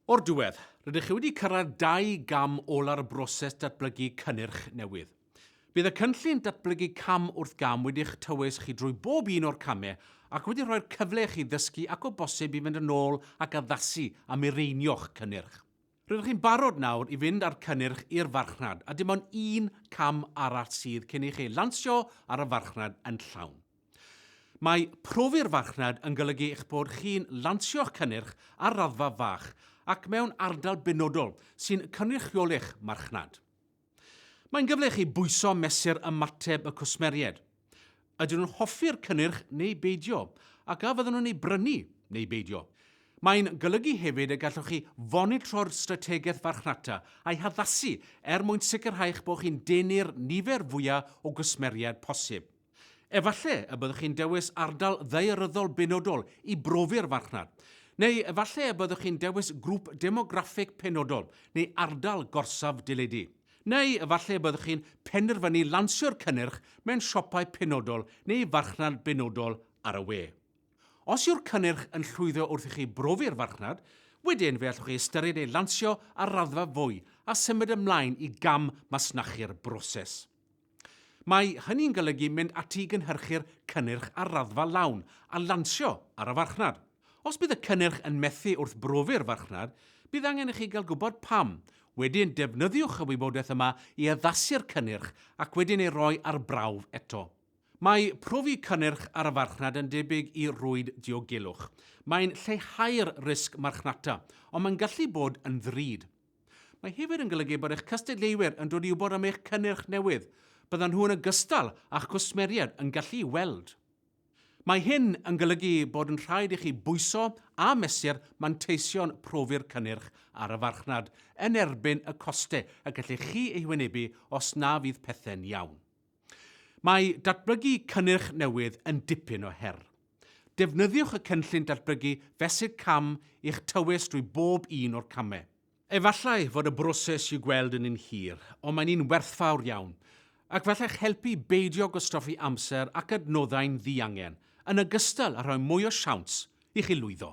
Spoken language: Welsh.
O'r diwedd, rydych chi wedi cyrraedd dau gam ola'r broses datblygu cynnyrch newydd. Bydd y cynllun datblygu cam wrth gam wedi'ch tywys chi drwy bob un o'r camau ac wedi rhoi'r cyfle i chi ddysgu ac o bosib i fynd yn ôl ac addasu a mireinio'ch cynnyrch. Rydych chi'n barod nawr i fynd â'r cynnyrch i'r farchnad a dim ond un cam arall sydd cyn i chi lansio ar y farchnad yn llawn. Mae profi'r farchnad yn golygu eich bod chi'n lansio'ch cynnyrch ar raddfa fach ac mewn ardal benodol sy'n cynrychioli'ch marchnad. Mae'n gyfle i chi bwyso mesur ymateb y cwsmeriaid. Ydyn nhw'n hoffi'r cynnyrch neu beidio, ac a fydden nhw'n ei brynu neu beidio? Mae'n golygu hefyd y gallwch chi fonitro'r strategaeth farchnata a'i haddasu er mwyn sicrhau eich bod chi'n denu'r nifer fwyaf o gwsmeriaid posib. Efallai y byddwch chi'n dewis ardal ddaearyddol benodol i brofi'r farchnad. Neu efallai y byddwch chi'n dewis grŵp demograffig penodol neu ardal gorsaf deledu. Neu efallai y byddwch chi'n penderfynu lansio'r cynnyrch mewn siopau penodol neu farchnad benodol ar y we. Os yw'r cynnyrch yn llwyddo wrth i chi brofi'r farchnad, wedyn fe allwch chi ystyried ei lansio ar raddfa fwy a symud ymlaen i gam masnachu'r broses. Mae hynny'n golygu mynd ati i gynhyrchu'r cynnyrch ar raddfa lawn a lansio ar y farchnad. Os bydd y cynnyrch yn methu wrth brofi'r farchnad, bydd angen i chi gael gwybod pam. Wedyn, defnyddiwch y wybodaeth yma i addasu'r cynnyrch ac wedyn ei roi ar brawf eto. Mae profi cynnyrch ar y farchnad yn debyg i rwyd diogelwch. Mae'n lleihau'r risg marchnata, ond mae'n gallu bod yn ddrud. Mae hefyd yn golygu bod eich cystadleuwyr yn dod i wybod am eich cynnyrch newydd, byddan nhw yn ogystal â'ch cwsmeriaid yn gallu weld. Mae hyn yn golygu bod yn rhaid i chi bwyso a mesur manteision profi'r cynnyrch ar y farchnad yn erbyn y costau y gellech chi eu hwynebu os na fydd pethau'n iawn. Mae datblygu cynnyrch newydd yn dipyn o her. Defnyddiwch y cynllun datblygu fesul cam i'ch tywys drwy bob un o'r camau. Efallai fod y broses i'w gweld yn un hir, ond mae'n un werthfawr iawn, ac fel eich helpu beidio gwastraffu amser ac adnoddau'n ddiangen, yn ogystal â rhoi mwy o siawns i chi lwyddo.